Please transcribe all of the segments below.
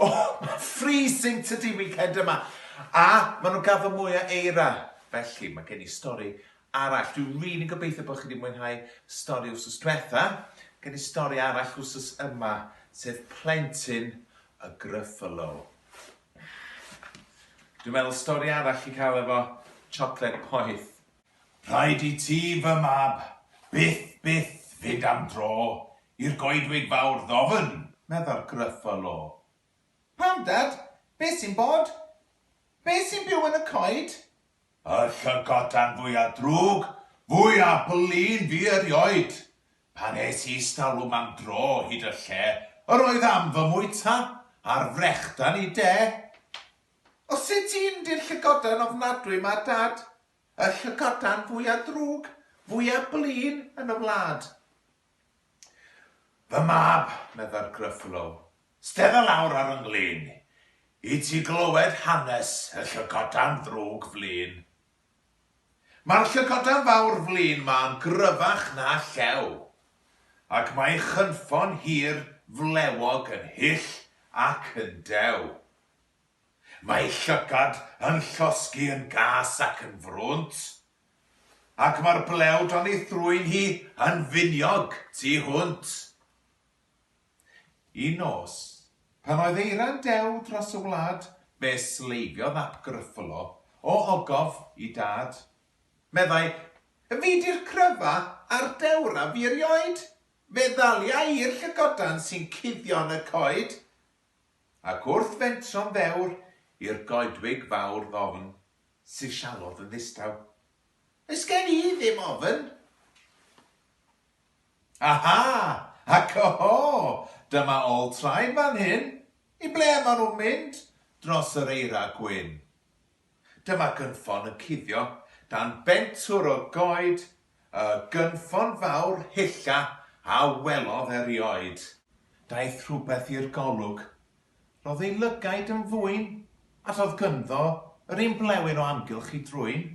O, mae'n freezing tydi weekend yma. A maen nhw'n gaddo mwy o eira. Felly, mae gen i stori arall. Dwi rili gobeithio bod chi wedi mwynhau stori wsos diwetha. Gen i stori arall wsos yma, sef plentyn y Gruffalo. Dwi'n meddwl stori arall i cael efo chocolate poeth. Rhaid i ti, fy mab, byth, byth fynd am dro I'r goedwig fawr ddofn, meddai'r Gruffalo. Pam, Dad? Be' sy'n bod? Be' sy'n byw yn y coed? Y llygoden fwya drwg, fwya blin fi erioed! Pan es i istalwm am dro hyd y lle yr oedd am fy mwyta, a'r frechdan i de! O sut un 'di'r llygoden ofnadwy 'ma, Dad? Y llygoden fwya drwg, fwya blin yn y wlad. Fy mab, meddai'r Gruffalo, stedda lawr ar 'y nglyn i ti glywed hanes y llygoden ddrwg flin. Mae'r llygoden fawr flin 'ma yn gryfach na llew, ac mae'i chynffon hir flewog yn hyll ac yn dew. Mae'i llygad yn llosgi yn gas ac yn frwnt, Ac mae'r blew dan ei thrwyn hi yn finiog tu hwnt. Un nos, pan oedd eira'n dew dros y wlad, fe sleifiodd ap Gruffalo o ogof i dad. Meddai, Fi 'di'r cryfa a'r dewr a fi erioed! Fe ddalia i'r llygodan sy'n cuddio yn y coed. Ac wrth fentro'n ddewr i'r goedwig fawr ddofn, syllodd yn ddistaw. Oes gen i ddim ofn! Aha! Ac oho! Dyma ol traed fan hyn! I ble maen nhw'n mynd dros yr eira gwyn? Dyma gynffon yn cuddio dan bentwr o goed, y gynffon fawr hylla a welodd erioed. Daeth rhywbeth i'r golwg Ro'dd ei lygaid yn fwyn, a do'dd gynddo yr un blewyn o amgylch i drwyn.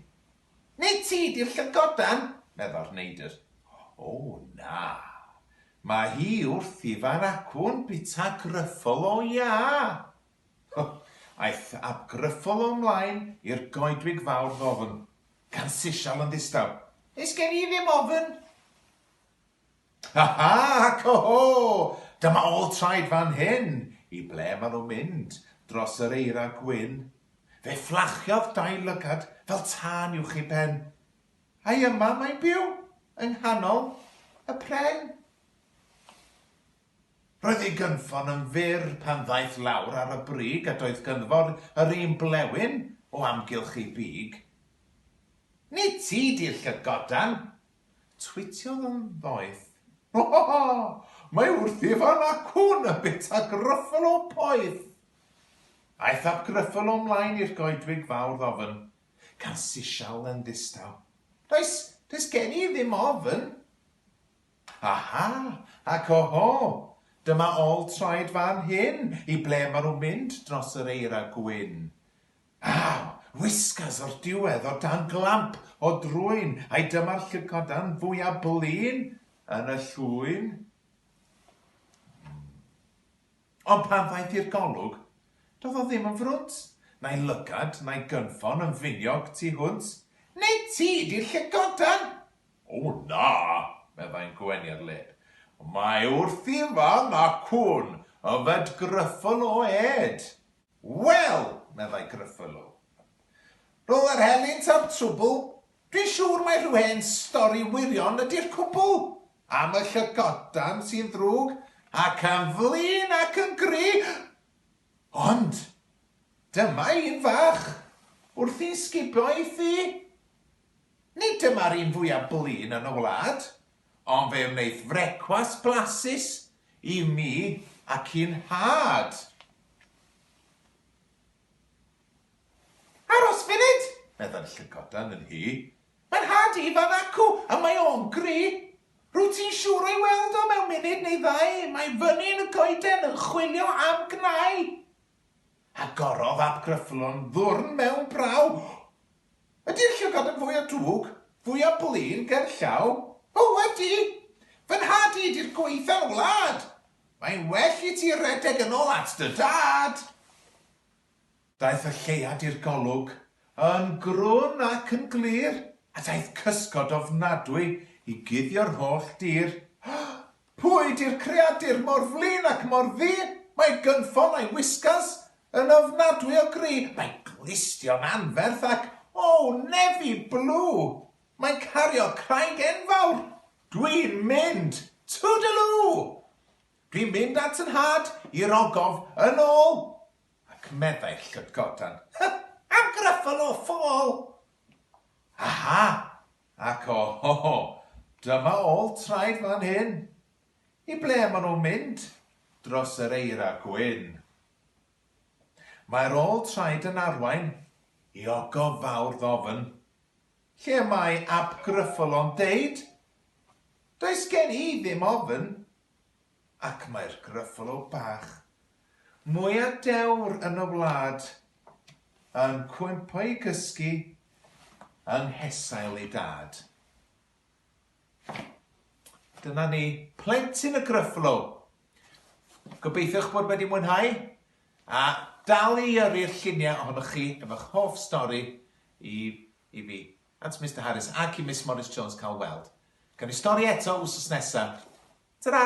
Nid ti 'di'r llygodan! medda'r neidr. O, na. Ma' hi wrth i fan acwn bita Gruffull o Iâ! Ho! Aeth ab Gruffull o 'mlaen i'r goedwig fawr ddofn, gan sisial yn ddistaw. Is gen i ddim ofn! Ha ha! Co ho! Dyma ôl traed fan hyn! I ble maen nhw'n mynd? Dros yr eira gwyn. Fe fflachiodd dau lygad fel tân uwch ei ben. Ai yma mae'n byw? Yng nghanol y pren? Roedd ei gynffon yn fyr pan ddaeth lawr ar y brig a doedd ganddo yr un blewyn o amgylch ei big. Nid ti 'di'r llygodan! Twitiodd yn ddoeth, Bohh! Mae wrth i fan a cŵn yn bita grwffl o poeth! Aeth ap Grwffl o mlaen i'r goedwig fawr ddofn, gan sisial yn ddistaw, Does, does gen i ddim ofn! Aha! Ac oho! Dyma ol traed fan hyn, i ble ma' nhw'n mynd dros yr eira gwyn? Aw! Whiskas o'r diwedd o dan glamp o drwyn ai dyma'r llygoden fwya blin yn y llwyn? Ond pan ddaeth i'r golwg, do'dd o ddim yn frwnt, na'i lygad, na'i gynffon yn finiog tu hwnt. Neu ti 'di'r llygoden! O na! meddai'n gweniad lep. Mae wrth i fan 'na cŵn yfed gryffl o êd! Wel! meddai Gruffalo. Rhwng yr helynt a'r trwbl, dwi'n siŵr mai rhyw hen stori wirion ydi'r cwbl, am y llygoden sy'n ddrwg ac yn flin ac yn gry'! Ond, dyma un fach, wrth i'n sgubio ei thŷ. Nid dyma'r un fwya' blin yn y wlad, ond fe wnaeth frecwast blasus i mi ac i'n nhad. Aros funud! meddai'r llygoden yn nhy. Mae nhad Ifan acw, a mae o'n gry. Rwyt ti'n siŵr o'i weld o mewn munud neu ddau, mae fyny yn y goeden yn chwilio am gnau. Agorodd ap Gruffuddlon ddwrn mewn braw. Ydi'r llygad yn fwy o dwg, fwy o blin ger llaw? O ydi! Fy nhad i ydi'r gwaetha'r wlad! Mae'n well i ti redeg yn ôl at dy dad! Daeth y lleuad i'r golwg, yn grwn ac yn glir, a daeth cysgod ofnadwy i guddio'r holl dir. Pwy 'di'r creadur mor flin ac mor ddu? Mae gynffon a'i whiskas yn ofnadwy o gry, mae glustion anferth ac, oh, nefi blue! Mae'n cario craig enfawr! Dwi'n mynd! Toodaloo! Dwi'n mynd at 'y nhad, i'r ogof, yn ôl! Ac meddai'r llydgodan, Hy! Am gryffel o ffôl! Aha! Ac o ho ho! Dyma ôl traed fan hyn! I ble maen nhw'n mynd? Dros yr eira gwyn. Mae'r ôl traed yn arwain i ogof fawr ddofn. Lle mae Ab Gruffull o'n deud? Does gen i ddim ofn. Ac mae'r Gruffalo bach, mwya dewr yn y wlad, yn cwympo i gysgu yng nghesail ei dad. Dyna ni, plentyn y Gruffalo! Gobeithio'ch bod wedi mwynhau, a dal i yrru'r lluniau ohonoch chi efo'ch hoff stori i, i fi. At Mister Harris ac i Miss Morris-Jones cael weld. Gawn ni stori eto wsos nesa. Tara!